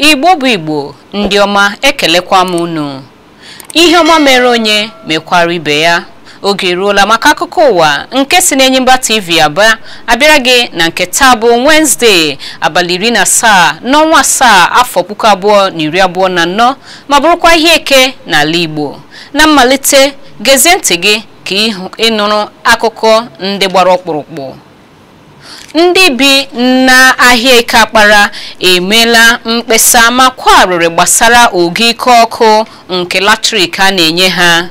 igbo bụ igbo ndị ọma ekelekwa m unu ihe ọma mere onye mekwara ibe ya oge eruola maka akụkọ ụwa nke si n'Enyimba TV Aba abịara gị na nke taa bụ Wednesday abalị iri na asaa n'ọnwa asaa afọ puku abụọ na iri abụọ na anọ ma bụrụkwa ahịa eke n'ala Igbo na mmalite gezie ntị gị ka ị nụrụ akụkọ ndị gbara ọkpụrụkpụ ndị bi n'ahịa eke akpara emeela mkpesa ma kwa arịrị gbasara ogo ike ọkụ nke latrik a na-enye ha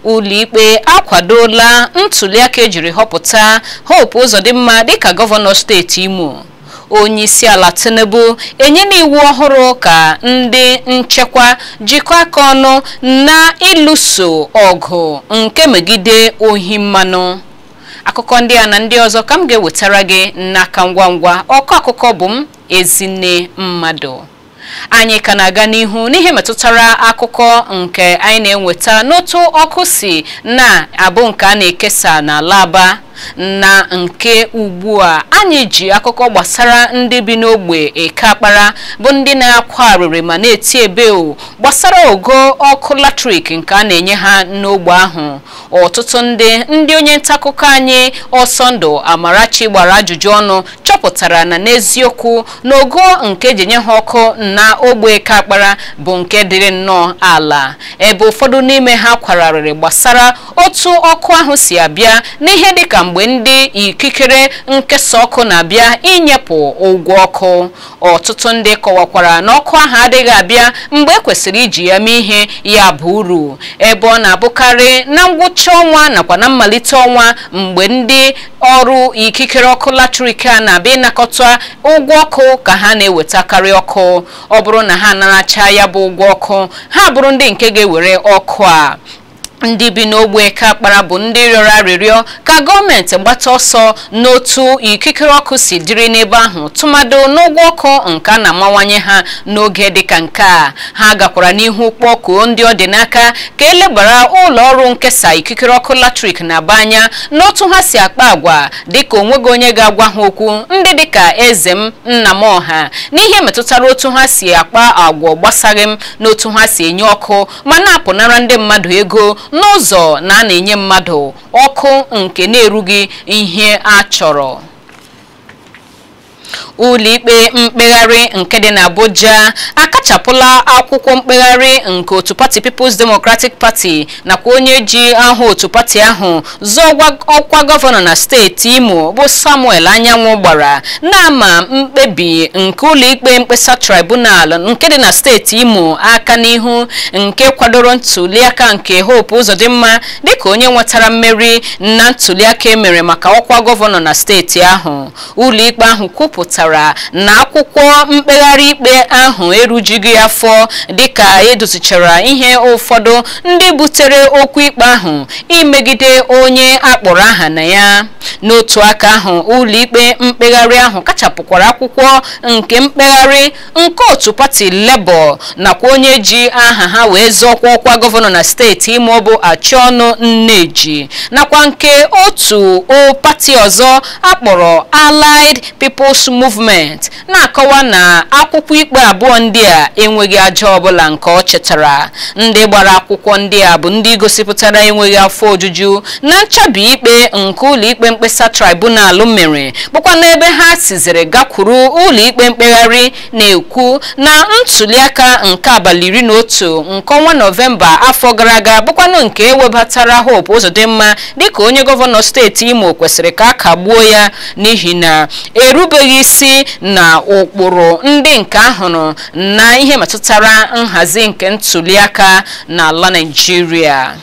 ụlọikpe akwadola ntuliaka ejiri họpụta Hope Uzodimma dịka gọvanọ steeti Imo onyeisiala Tinubu enyela iwu ọhụrụ ka ndị nchekwa jikọọ aka ọnụ na ịlụso ọgụ nke megide ohi mmanụ akụkọ ndị a na ndị ọzọ ka m ga-ewetara gị n'aka ngwa ngwa ọkọ akụkọ bụ m Ezinne Mmadụ anyị ka na-aga n'ihu n'ihe metụtara akụkọ nke anyị na-enweta n'otu ọkụ si na-abụ nke a na-ekesa n'ala Aba na nke ugbu a anyị ji akụkọ gbasara ndị bi n'ogbe eke akpara bụ ndị na-akwa arịrị ma na-eti ebeo gbasara ogo ọkụ latrik nke a na-enye ha n'ogbe ahụ ọtụtụ ndị ndị onye ntaakụkọ anyị Ọsọndụ Amarachi gbara ajụjụ ọnụ chọpụtara na n'eziokwu na ogo nke eji enye ha ọkụ na ogbe eke akpara bụ nke dịrị nnọọ ala ebe ụfọdụ n'ime ha kwara arịrị gbasara otu ọkụ ahụ si abịa n'ihe dịka mgbe ndị ikikere nkesa ọkụ na-abịa inyepụ ụgwọ ọkụ ọtụtụ ndị kọwakwara na ọkụ ahụ adịghị abịa mgbe ekwesịrị iji ya mee ihe ga-aba uru ebe ọ na-abụkarị na ngwụcha ọnwa nakwa na mmalite ọnwa mgbe ndị ọrụ ikikere ọkụ latrik a na-abịa ịnakọta ụgwọ ọkụ ka ha na-ewetakarị ọkụ ọ bụrụ na ha anaracha ya bụ ụgwọ ọkụ ha bụrụ ndị nke ga-ewere ọkụ a ndị bi n'ogbe eke akpara bụ ndị rịọrọ arịrịọ ka gọọmenti gbata ọsọ n'otu ikikere ọkụ si dịrị n'ebe ahụ tụmadụ n'ụgwọ ọkụ nke a na-amawanye ha n'oge dịka nke a ha gakwara n'ihu kpọkuo ndị ọ dị n'aka ka elebara ụlọ ọrụ nkesa ikikere ọkụ latrik n'Aba anya n'otu ha si akpa agwa dịka onweghị onye ga-agwa ha okwu ndị dịka eze m nna m ọha n'ihe metụtara otu ha si akpa agwa agbasaghị m n'otu ha si enye ọkụ ma na-apụnara ndị mmadụ ego n'ụzọ na a na-enye mmadụ ọkụ nke na-erughị ihe a chọrọ ụlọikpe mkpegharị nke dị n'Abuja akachapụla akwụkwọ mkpegharị nke otu pati People's Democratic Party nakwa onye ji aha otu pati ahụ zọọkwa ọkwa gọvanọ na steeti imo bụ samuel anyanwụ gbara na-ama mkpebi nke ụlọikpe mkpesa tribunal nke dị na steeti imo aka n'ihu nke kwadoro ntuliaka nke hope ụzọdịmma dịka onye nwetara mmeri na ntuliaka emere maka ọkwa gọvanọ na steeti ahụ ụlọikpe ahụ kwupụtara na akwụkwọ mkpegharị ikpe ahụ erujughị afọ dịka edozichara ihe ụfọdụ ndị butere okwu ikpe ahụ imegide onye akpọrọ aha na ya n'otu aka ahụ ụlọikpe mkpegharị ahụ kachapụkwara akwụkwọ nke mkpegharị nke otu pati Labour nakwa onye ji aha ha wee zọọkwa ọkwa gọvanọ na steeti Imo bụ Achọnụ Nneji nakwa nke otu o pati ọzọ akpọrọ Allied People's Movement na-akọwa na akwụkwọ ikpe abụọ ndị a enweghị aja ọbụla nke ọ chịtara ndị gbara akwụkwọ ndị a bụ ndị gosipụtara enweghị afọ ojuju na nchabi ikpe nke ụlọikpe mkpesa tribunal mere bụkwanụ ebe ha siziri gakwuru ụlọikpe mkpegharị na-ekwu na ntuliaka nke abalị iri na otu nke ọnwa nọvemba afọ gara aga bụkwanụ nke ewebatara Hope Uzodimma dịka onye gọvanọ steeti Imo kwesịrị ka a kagbuo ya n'ihi na erubeghị isi na ụkpụrụ ndị nke ahụrụ na ihe metụtara nhazi nke ntuliaka n'ala Naịjirịa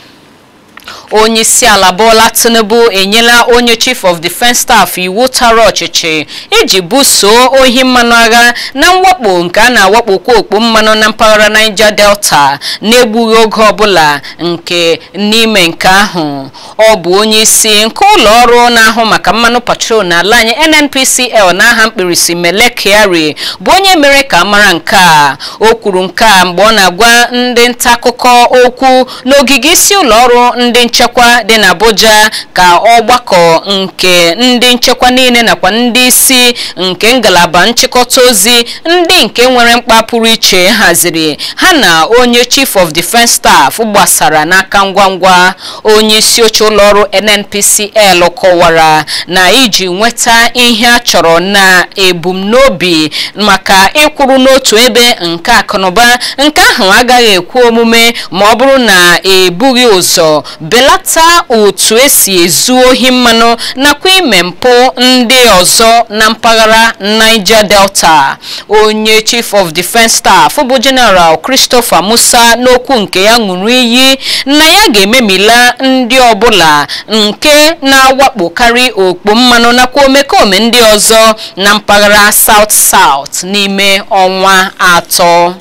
onyeisiala Bola Tinubu enyela onye chief of defence staff iwu tara ọchịchị iji busoo ohi mmanụ agha na mwakpo nke a na-awakpokwa okpo mmanụ na mpaghara Niger Delta na-egbughị oge ọbụla nke n'ime nke ahụ ọ bụ onye isi nke ụlọ ọrụ na-ahụ maka mmanụ petrol n'ala anyị NNPCL n'aha mkpirisi Mele Kyari bụ onye mere ka a mara nke a o kwuru nke a mgbe ọ na-agwa ndị nta akụkọ okwu n'ogige isi ụlọọrụ ndị nchekwa dị n'Abuja ka ọgbakọ nke ndị nchekwa niile nakwa ndị isi nke ngalaba nchịkọta ozi ndị nke nwere mkpa pụrụ iche haziri ha na onye chief of defence staff gbasara n'aka ngwa ngwa onye isi oche ụlọọrụ NNPCL kọwara na iji nweta ihe a chọrọ na ebumnobi maka ịkwụrụ n'otu ebe nke akụnụba nke ahụ agaghị ekwe omume ma ọ bụrụ na ebughị ụzọ belata otu esi ezu ohi mmanụ nakwa ime mpụ ndị ọzọ na mpaghara Niger Delta onye Chief of Defence Staff bụ General Christopher Musa n'okwu nke ya ṅụrụ iyi na ya ga-ememila ndị ọbụla nke na-awakpokarị okpo mmanụ nakwa omekome ndị ọzọ na mpaghara South South n'ime ọnwa atọ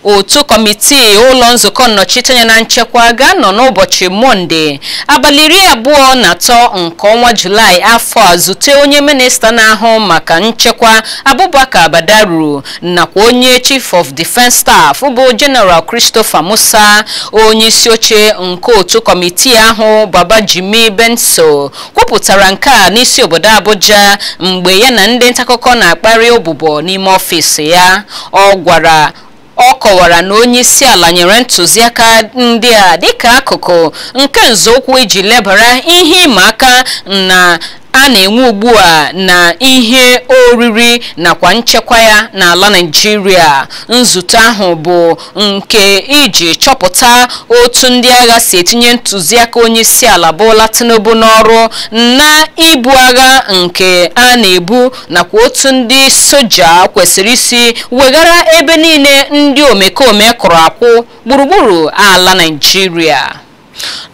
otu kọmitii ụlọ nzukọ nnọchiteanya na nchekwa ga-anọ n'ụbọchị mọnde abalị iri abụọ na atọ nke ọnwa julaị afọ a zute onye minista na-ahụ maka nchekwa abubakar badaru nakwa onye chief of defence staff bụ general christopher musa onye isi oche nke otu kọmitii ahụ babajimi benson kwupụtara nke a n'isi obodo Abuja mgbe ya na ndị ntaakụkọ na-akparị ụbụbọ n'ime ọfịs ya ọ gwara ọ kọwara na onye isi ala nyere ntụziaka ndị a dịka akụkụ nke nzọụkwụ iji lebara ihe ịma aka na a na-enwe ugbu a na ihe oriri nakwa nchekwa ya n'ala Naịjirịa nzute ahụ bụ nke iji chọpụta otu ndị agha si etinye ntụziaka onyeisiala Bola Tinubu n'ọrụ na ibu agha nke a na-ebu nakwa otu ndị soja kwesịrị isi weghara ebe niile ndị omekome kụrụ akwụ gburugburu ala Naịjirịa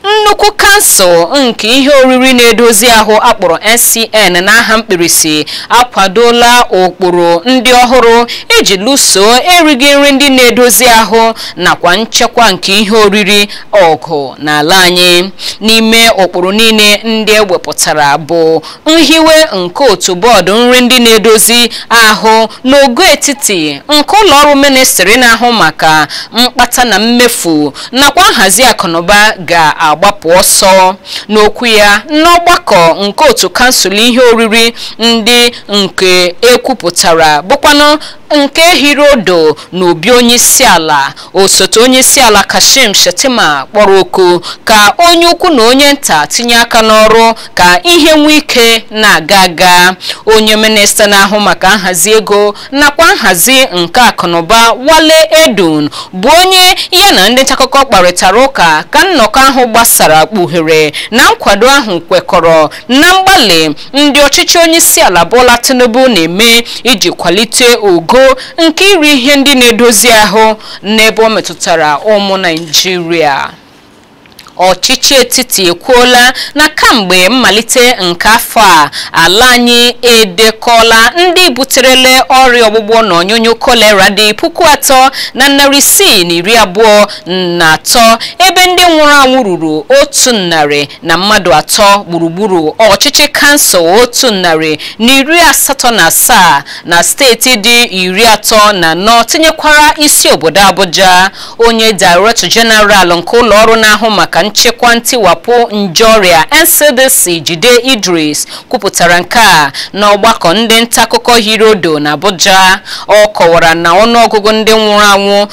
nnukwu kansụl nke ihe oriri na-edozi ahụ akpọrọ NCN n'aha mkpirisi akwadola ụkpụrụ ndị ọhụrụ iji lụso erighị nri ndị na-edozi ahụ nakwa nchekwa nke ihe oriri ọgụ n'ala anyị n'ime ụkpụrụ niile ndị ewepụtara bụ nhiwe nke otu bọọdụ nri ndị na-edozi ahụ n'ogo etiti nke ụlọ ọrụ ministri na-ahụ maka mkpata na mmefu nakwa nhazi akụnụba ga-agbapụ ọsọ n'okwu ya n'ọgbakọ nke otu kansụl ihe oriri ndị nke ekwupụtara bụkwanụ nke hiri odo na obi onyeisiala osote onyeisiala kashim shettima kpọrọ oku ka onye ukwu na onye nta tinye aka n'ọrụ ka ihe nwee ike na-aga aga onye minista na-ahụ maka nhazi ego nakwa nhazi nke akụnụba Wale Edun bụ onye ya na ndị ntaakụkọ kparịtara ụka ka nnọkọ ahụ gbasara kpughere na nkwado ahụ kwekọrọ na mgbalị ndị ọchịchị onyeisiala Bola Tinubu na-eme iji kwalite ogo nke iri ihe ndị na-edozi ahụ n'ebe ọ metụtara ụmụ Naịjirịa ọchịchị etiti ekwuola na kamgbe mmalite nke afọ a ala anyị edekọla ndị buterele ọrịa ọgbụgbọ na ọnyụnyụ kolera dị puku atọ na narị isii na iri abụọ na atọ ebe ndị nwụrụ anwụ ruru otu narị na mmadụ atọ gburugburu ọchịchị kansụl otu narị na iri asatọ na asaa na steeti dị iri atọ na anọ tinyekwara isi obodo Abuja onye director general nke ụlọ ọrụ na-ahụ maka nchekwa ntiwapụ nje ọrịa ncdc jide idris kwupụtara nke a n'ọgbakọ ndị ntaakụkọ hiri odo na abuja ọ kọwara na ọnụọgụgụ ndị nwụrụ anwụ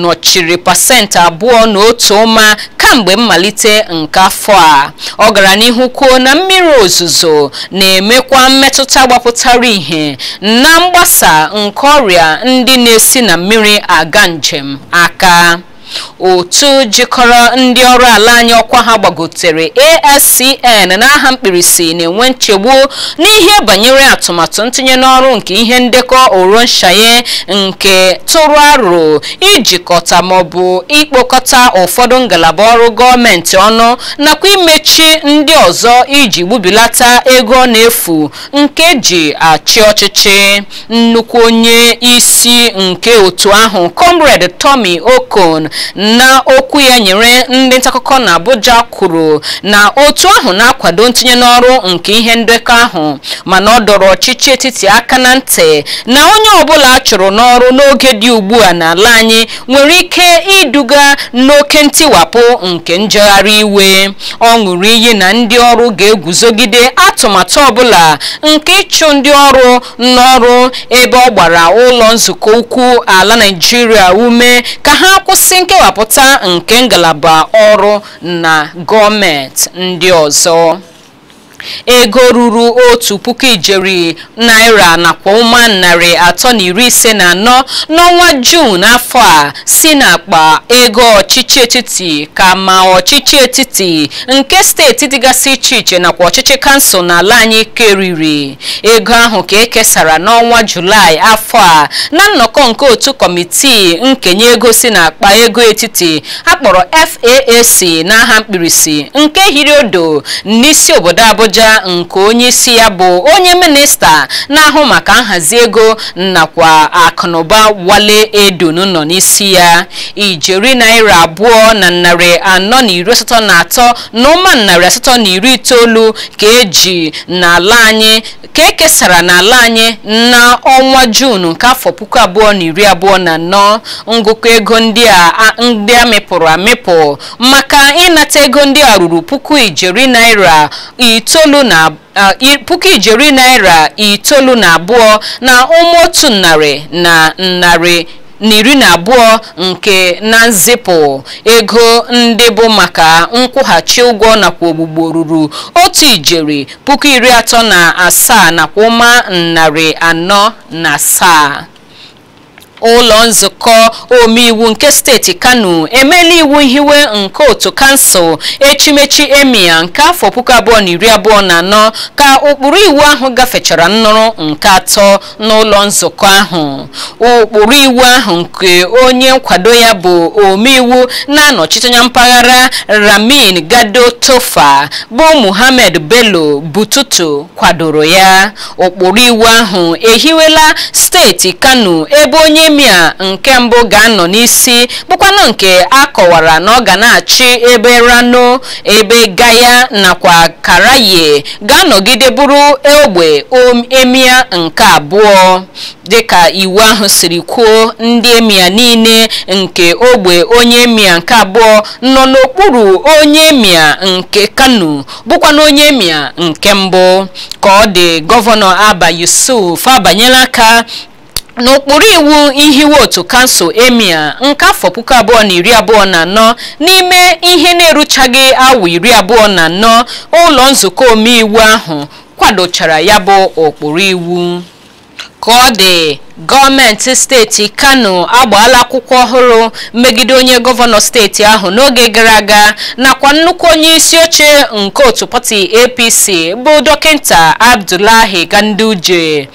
nọchiri pasentị abụọ na otu ụma kamgbe mmalite nke afọ a ọ gara n'ihu kwuo na mmiri ozuzo na-emekwa mmetụta gbapụtara ihe na mgbasa nke ọrịa ndị na-esi na mmiri aga njem aka otu jikọrọ ndị ọrụ ala anyị ọkwa ha gbagotere ASCN n'aha mkpirisi na-enwe nchegbu n'ihe banyere atụmatụ ntinye n'ọrụ nke ihe ndekọ Oronsaye nke tụrụ aro ijikọta maọbụ ikpokọta ụfọdụ ngalaba ọrụ gọọmenti ọnụ nakwa imechi ndị ọzọ iji gbubilata ego ọ na-efu nke e ji achị ọchịchị nnukwu onye isi nke otu ahụ comrade Tommy Okon na okwu ya nyere ndị ntaakụkọ na Abuja kwuru na otu ahụ na-akwado ntinye n'ọrụ nke ihe ndekọ ahụ mana ọ dọrọ ọchịchị etiti aka na ntị na onye ọbụla a chụrụ n'ọrụ n'oge dị ugbu a n'ala anyị nwere ike iduga n'oke ntiwapụ nke njegharị iwe ọ ṅụrụ iyi na ndị ọrụ ga-eguzogide atụmatụ ọbụla nke ịchụ ndị ọrụ n'ọrụ ebe ọ gbara ụlọ nzukọ ukwu ala naijiria ume ka ha kwụsị nkewapụta nke ngalaba ọrụ na gọọmenti ndị ọzọ ego ruru otu puku ijeri naira nakwa ụma narị atọ na iri ise na anọ n'ọnwa juun afọ a si n'akpa ego ọchịchị etiti ka ma ọchịchị etiti nke steeti dịgasị iche iche nakwa ọchịchị kansụl n'ala anyị keriri ego ahụ ka e kesara n'ọnwa julaị afọ a na nnọkọ nke otu kọmitii nkenye ego si n'akpa ego etiti a kpọrọ FAAC n'aha mkpirisi nke hiri odo n'isi obodo Abuja nke onye isi ya bụ onye minista na-ahụ maka nhazi ego nakwa akụnụba Wale Edun nọ n'isi ya ijeri naira abụọ na narị anọ na iri asatọ na atọ na ụma narị asatọ na iri itoolu ka e ji n'ala anyị ka e kesara n'ala anyị n'ọnwa Juun nke afọ puku abụọ na iri abụọ na anọ ngụkọ ego ndị a mịpụrụ amịpụ maka ịnata ego ndị a ruru puku ijeri naira itoolu na abụọ na ụma otu narị na narị na iri na abụọ nke na nzipụ ego ndị bụ maka nkwụghachi ụgwọ nakwa ogbugbo ruru otu ijeri puku iri atọ na asaa nakwa ụma narị anọ na asaa ụlọ nzukọ omeiwu nke steeti kano emeela iwu ihiwe nke otu kansụl echimechi emia nke afọ puku abụọ na iri abụọ na anọ ka ụkpụrụ iwu ahụ gafechara nnụrụ nke atọ n'ụlọ nzukọ ahụ ụkpụrụ iwu ahụ nke onye nkwado ya bụ omeiwu na-anọchite anya mpaghara ramin gado tofa bụ muhammed bello bututu kwadoro ya ụkpụrụ iwu ahụ ehiwela steeti kano ebe onye emia nke mbụ ga-anọ n'isi bụkwanụ nke a kọwara na ọ ga na-achị ebe rano ebe gaya nakwa karaye ga-anọgide bụrụ ogbe emia nke abụọ dịka iwu ahụ siri kwuo ndị emia niile nke ogbe onye emia nke abụọ nọ n'okpuru onye emia nke kano bụkwanụ onye emia nke mbụ ka ọ dị gọvanọ abba yusuf abanyela aka n'ụkpụrụ iwu ihiwe otu kansụl emia nke afọ puku abụọ na iri abụọ na anọ n'ime ihe na-eruchaghị awa iri abụọ na anọ ụlọ nzukọ omeiwu ahụ kwadochara ya bụ ụkpụrụ iwu ka ọ dị gọọmenti steeti kano agbaala akwụkwọ ọhụrụ megide onye gọvanọ steeti ahụ n'oge gara aga nakwa nnukwu onye isi oche nke otu pati apc bụ dọkịta abdullahi ganduje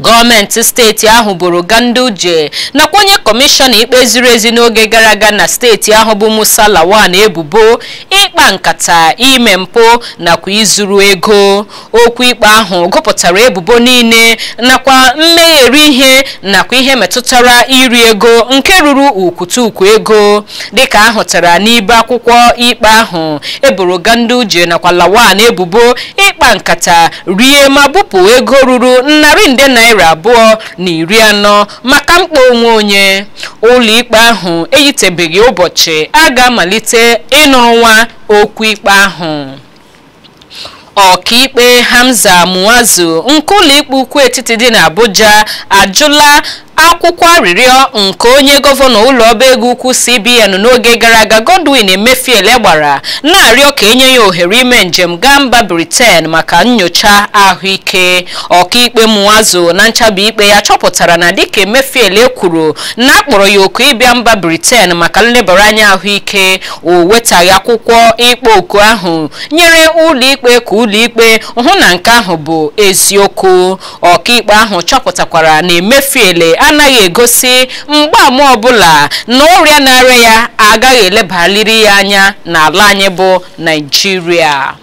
gọọmenti steeti ahụ boro Ganduje nakwa onye kọmishọna ikpe ziri ezi n'oge gara aga na steeti ahụ bụ Musa Lawan ebubo ịkpa nkata ime mpụ nakwa izuru ego okwu ikpe ahụ gụpụtara ebubo niile nakwa mmegheri ihe nakwa ihe metụtara iri ego nke ruru ukwutukwu ego dịka a hụtara n'ibe akwụkwọ ikpe ahụ e boro Ganduje nakwa Lawan ebubo ịkpa nkata rie ma bupụ ego ruru narị nde naira abụọ na iri anọ maka mkpa onwe onye ụlọikpe ahụ eyitebeghị ụbọchị a ga-amalite ịnụrụ nwa okwu ikpe ahụ ọkaikpe hamza muazu nke ụlọikpe ukwu etiti dị n'abuja ajụla akwụkwọ arịrịọ nke onye gọvanọ ụlọ ọba ego ukwu CBN n'oge gara aga Godwin Emefiele gbara na-arịọ ka enye ya ohere ime njem gaa mba Britain maka nyocha ahụike ọkaikpe Muazu na nchabi ikpe ya chọpụtara na dịka Emefiele kwuru na akpọrọ ya oku ịbịa mba Britain maka nlebara anya ahụike o wetaghị akwụkwọ ịkpọ oku ahụ nyere ụlọikpe ka ụlọikpe hụ na nke ahụ bụ eziokwu ọkaikpe ahụ chọpụtakwara na Emefiele anaghị egosi mgbaama ọbụla na ọrịa na-arịa ya agaghị elebaliri ya anya n'ala anyị bụ Naịjirịa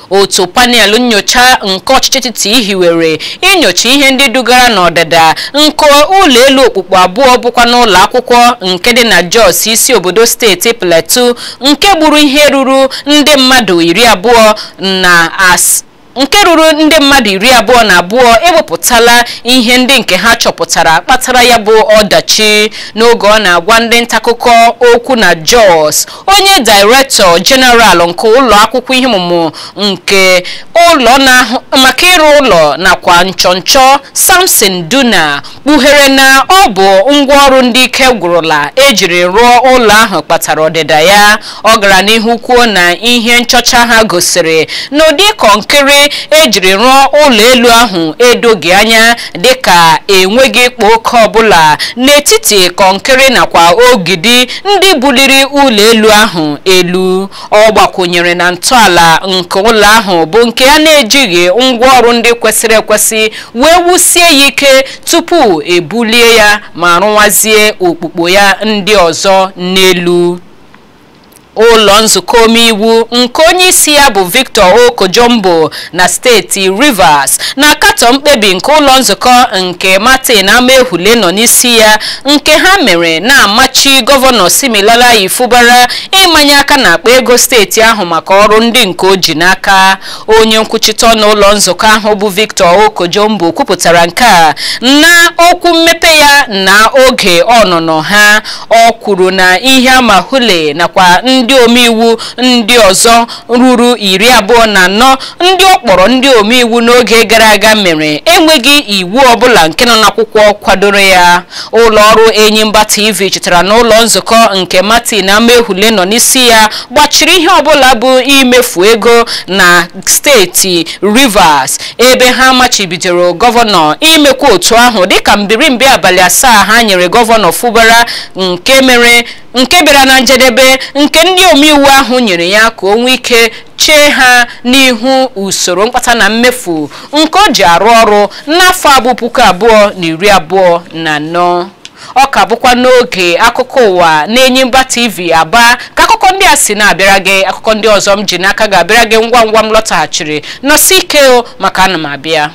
otu panel nyocha nke ọchịchị etiti hiwere inyocha ihe ndị dugara n'ọdịda nke ụlọ elu okpukpu abụọ bụkwa n'ụlọ akwụkwọ nke dị na Jos isi obodo steeti Plateau nke gburu ihe ruru ndị mmadụ iri abụọ na as nke ruru ndị mmadụ iri abụọ na abụọ ewepụtala ihe ndị nke ha chọpụtara kpatara ya bụ ọdachi n'oge ọ na-agwa ndị ntakụkọ okwu na Jos onye Director General nke ụlọ akwụkwọ ihe ọmụmụ nke ụlọ na-ahụ maka ịrụ ụlọ nakwa nchọnchọ Samson Duna kpughere na ọ bụ ngwaọrụ ndị ike gwụrụla ejiri rụọ ụlọ ahụ kpatara ọdịda ya ọ gara n'ihu kwuo na ihe nchọcha ha gosiri na ụdị kọnkịrị ejiri rụọ ụlọ elu ahụ edoghị anya dịka enweghị ịkpa oke ọbụla n'etiti kọnkịrị nakwa ogidi ndị buliri ụlọ elu ahụ elu ọ gbakwụnyere na ntọala nke ụlọ ahụ bụ nke a na-ejighị ngwaọrụ ndị kwesịrị ekwesị wee wusie ya ike tupu ebulie ya ma rụwazie okpukpo ya ndị ọzọ n'elu ụlọ nzukọ omeiwu nke onye isi ya bụ Victor Oko-Jumbo na steeti Rivers na-akatọ mkpebi nke ụlọ nzukọ nke Martin Amaewhule nọ n'isi ya nke ha mere na-amachi gọvanọ Siminalayi Fubara ịmanye aka n'akpa ego steeti ahụ maka ọrụ ndị nke o ji n'aka onye nkwuchite ọnụ ụlọ nzukọ ahụ bụ Victor Oko-Jumbo kwupụtara nke a na okwu mmepe ya na oge ọnụnọ ha ọ kwuru na ihe Amaewhule nakwa ndị omeiwu ndị ọzọ ruru iri abụọ na anọ ndị ọ kpọrọ ndị omeiwu n'oge gara aga mere enweghị iwu ọbụla nke nọ n'akwụkwọ kwadoro ya ụlọ ọrụ Enyimba TV chetara na ụlọ nzukọ nke Martin Amaewhule nọ n'isi ya gbachiri ihe ọbụla bụ imefu ego na steeti Rivers ebe ha machibidoro gọvanọ imekwa otu ahụ dịka mbirimbi abalị asaa ha nyere gọvanọ Fubara nke mere nke bịara na njedebe nke ndị omeiwu ahụ nyere ya ka o nwee ike chee ha n'ihu usoro mkpata na mmefu nke o ji arụ ọrụ n'afọ abụ puku abụọ na iri abụọ na anọ ọ ka bụkwa n'oge akụkọ ụwa na enyimba tv aba ka akụkọ ndị a si na-abịara gị akụkọ ndị ọzọ m ji n'aka ga-abịara gị ngwa ngwa m lọtaghachiri nọsi ike o maka ana m abịa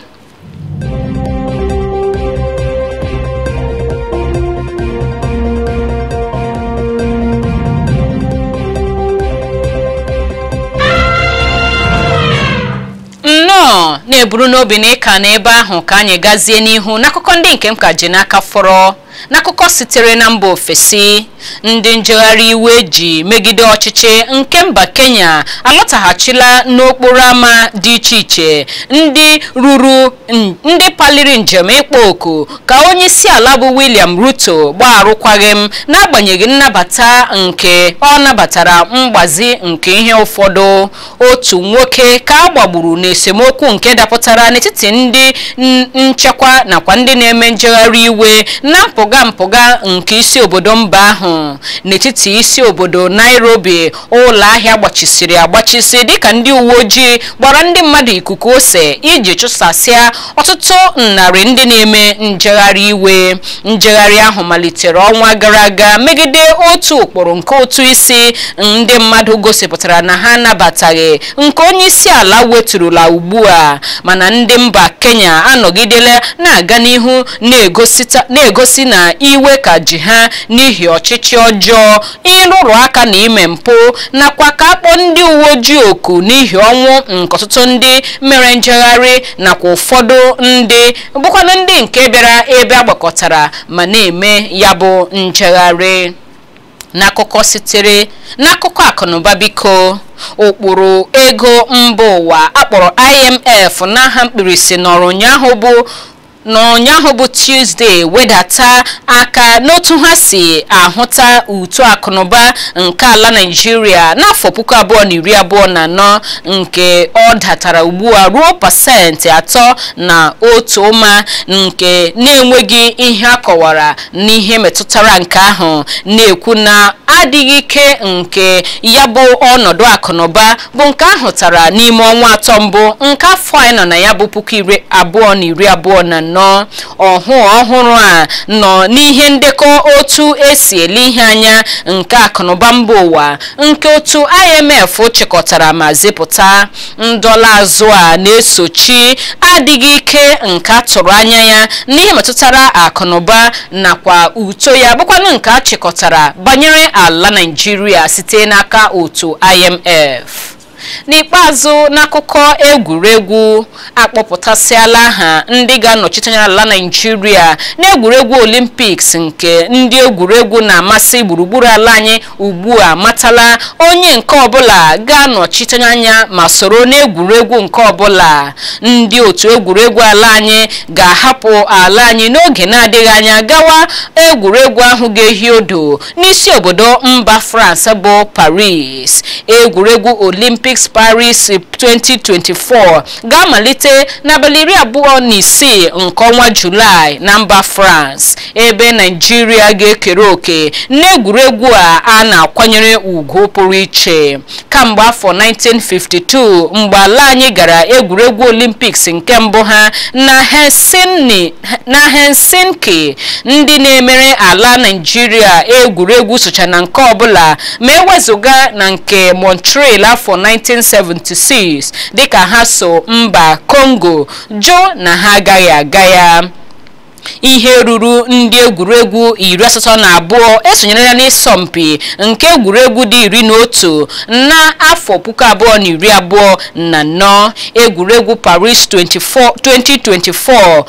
nnọọ na-eburu n'obi na ị ka nọ ebe ahụ ka anyị gazie n'ihu n'akụkọ ndị nke m ka ji n'aka fọrọ n'akụkọ sitere na mba ofesi ndị njegharị iwe ji megide ọchịchị nke mba kenya alọtaghachila n'okporo ámá dị iche iche ndị ruru n- ndị paliri njem ịkpọ oku ka onye isi ala bụ william ruto gbaa arụkwaghịm n'agbanyeghị nnabata nke ọ nabatara mgbazi nke ihe ụfọdụ otu nwoke ka a gbagburu n'esemokwu nke dapụtara n'etiti ndị n- nchekwa nakwa ndị na-eme njegharị iwe na mpụga mpụga nke isi obodo mba ahụ n'etiti isi obodo nairobi ụlọ ahịa gbachisiri agbachisi dịka ndị uwe ojii gbara ndị mmadụ ikuku ose iji chụsasịa ọtụtụ narị ndị na-eme njegharị iwe njegharị ahụ malitere ọnwa gara aga megide otu ụkpụrụ nke ụtụ isi ndị mmadụ gosipụtara na ha anabataghị nke onye isi ala weturula ugbu a mana ndị mba kenya anọgidela na-aga n'ihu na-egosi na iwe ka ji ha n'ihi ọchịchị ọjọọ ịrụrụ aka na ime mpụ nakwa ka a kpọọ ndị uwe ojii oku n'ihi ọnwụ nke ọtụtụ ndị mere njegharị nakwa ụfọdụ ndị bụkwanụ ndị nke bịara ebe a gbakọtara ma na-eme ya bụ njegharị n'akụkọ sitere n'akụkọ akụnụba biko ụkpụrụ ego mba ụwa a kpọrọ IMF n'aha mkpirisi nọrọ ụnyaahụ bụ Tuesday wedata aka n'otu ha si ahụta uto akụnụba nke ala Naịjirịa n'afọ puku abụọ na iri abụọ na anọ nke ọ datara ugbu a ruo pasentị atọ na otu ụma nke na-enweghị ihe a kọwara n'ihe metụtara nke ahụ na-ekwu na adịghị ike nke ya bụ ọnọdụ akụnụba bụ nke a hụtara n'ime ọnwa atọ mbụ nke afọ anyị nọ na ya bụ puku iri abụọ na iri abụọ na anọ ọhụụ ọhụrụ a nọ n'ihe ndekọ otu e si ele ihe anya nke akụnụba mba ụwa nke otu IMF chịkọtara ma zipụta ndọla azụ a na-esochi adịghị ike nke a tụrụ anya ya n'ihe metụtara akụnụba nakwa uto ya bụkwanụ nke a chịkọtara banyere ala Naịjirịa site n'aka otu IMF n'ikpeazụ n'akụkọ egwuregwu akpọpụtasịala aha ndị ga-anọchite anya ala naijiria n'egwuregwu olimpiks nke ndị egwuregwu na-amasị gburugburu ala anyị ugbu a matala onye nke ọbụla ga-anọchite anya ma soro n'egwuregwu nke ọbụla ndị otu egwuregwu ala anyị ga-ahapụ ala anyị n'oge na-adịghị anya gawa egwuregwu ahụ ga-ehi odo n'isi obodo mba France bụ Paris egwuregwu Olympics Paris 2024 ga-amalite n'abalị iri abụọ na isii nke ọnwa Julaị na mba France ebe Naijiria ga-ekere oke n'egwuregwu a a na-akwanyere ugwu pụrụ iche kamgbe afọ 1952 mgbe ala anyị gara egwuregwu olimpiks nke mbụ ha na Helsinki ndị na-emere ala Naịjirịa egwuregwu socha na nke ọbụla ma ewezụga na nke Montreal afọ 1976 dịka ha so mba Congo jụ na ha agaghị aga ya ihe ruru ndị egwuregwu iri asatọ na abụọ esonyerela n'ịsọmpi nke egwuregwu dị iri na otu na afọ puku abụọ na iri abụọ na anọ egwuregwu Paris 2024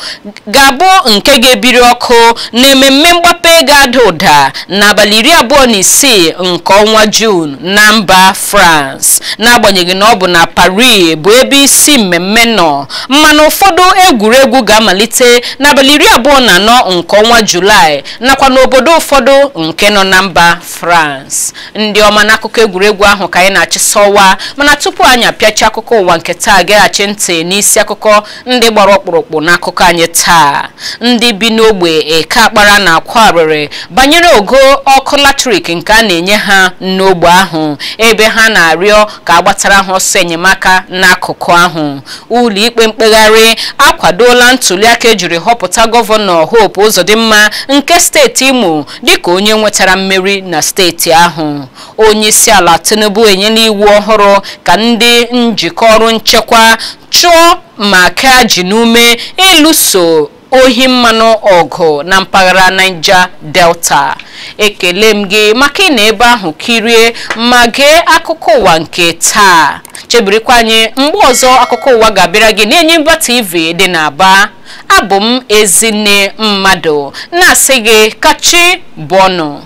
ga-abụ nke ga-ebiri ọkụ na ememme mgbape ga-ada ụda n'abalị iri abụọ na isii nke ọnwa juun na mba France n'agbanyeghị na ọ bụ na Paris bụ ebe isi mmemme nọ mana ụfọdụ egwuregwu ga-amalite n'abalị iri abụọ na anọ nke ọnwa Julaị nakwa n'obodo ụfọdụ nke nọ na mba France ndị ọma n'akụkọ egwuregwu ahụ ka anyị na-achịsọwa mana tupu anyị apịachi akụkọ ụwa nke taa geghachi ntị n'isi akụkọ ndị gbara ọkpụrụkpụ n'akụkọ anyị taa ndị bi n'ogbe Eke Akpara na-akwa arịrị banyere ogo ọkụ latrik nke a na-enye ha n'ogbe ahụ ebe ha na-arịọ ka a gbatara ha ọsọ enyemaka n'akụkụ ahụ ụlọikpe mkpegharị akwadola ntuliaka ejiri họpụta gọvanọ Hope Uzodimma nke steeti Imo dịka onye nwetara mmeri na steeti ahụ onyeisiala Tinubu enyela iwu ọhụrụ ka ndị njikọ ọrụ nchekwa chụọ ma kaa ji n'ume ịlụso ohi mmanụ ọgụ na mpaghara Niger Delta ekele m gị maka ịnọ ebe ahụ kirie ma gee akụkọ ụwa nke taa chebirikwa anyị mgbe ọzọ akụkọ ụwa ga-abịara gị n'Enyimba TV dị n'Aba abụ m Ezinne Mmadụ na-asị gị ka chi bọọ nụ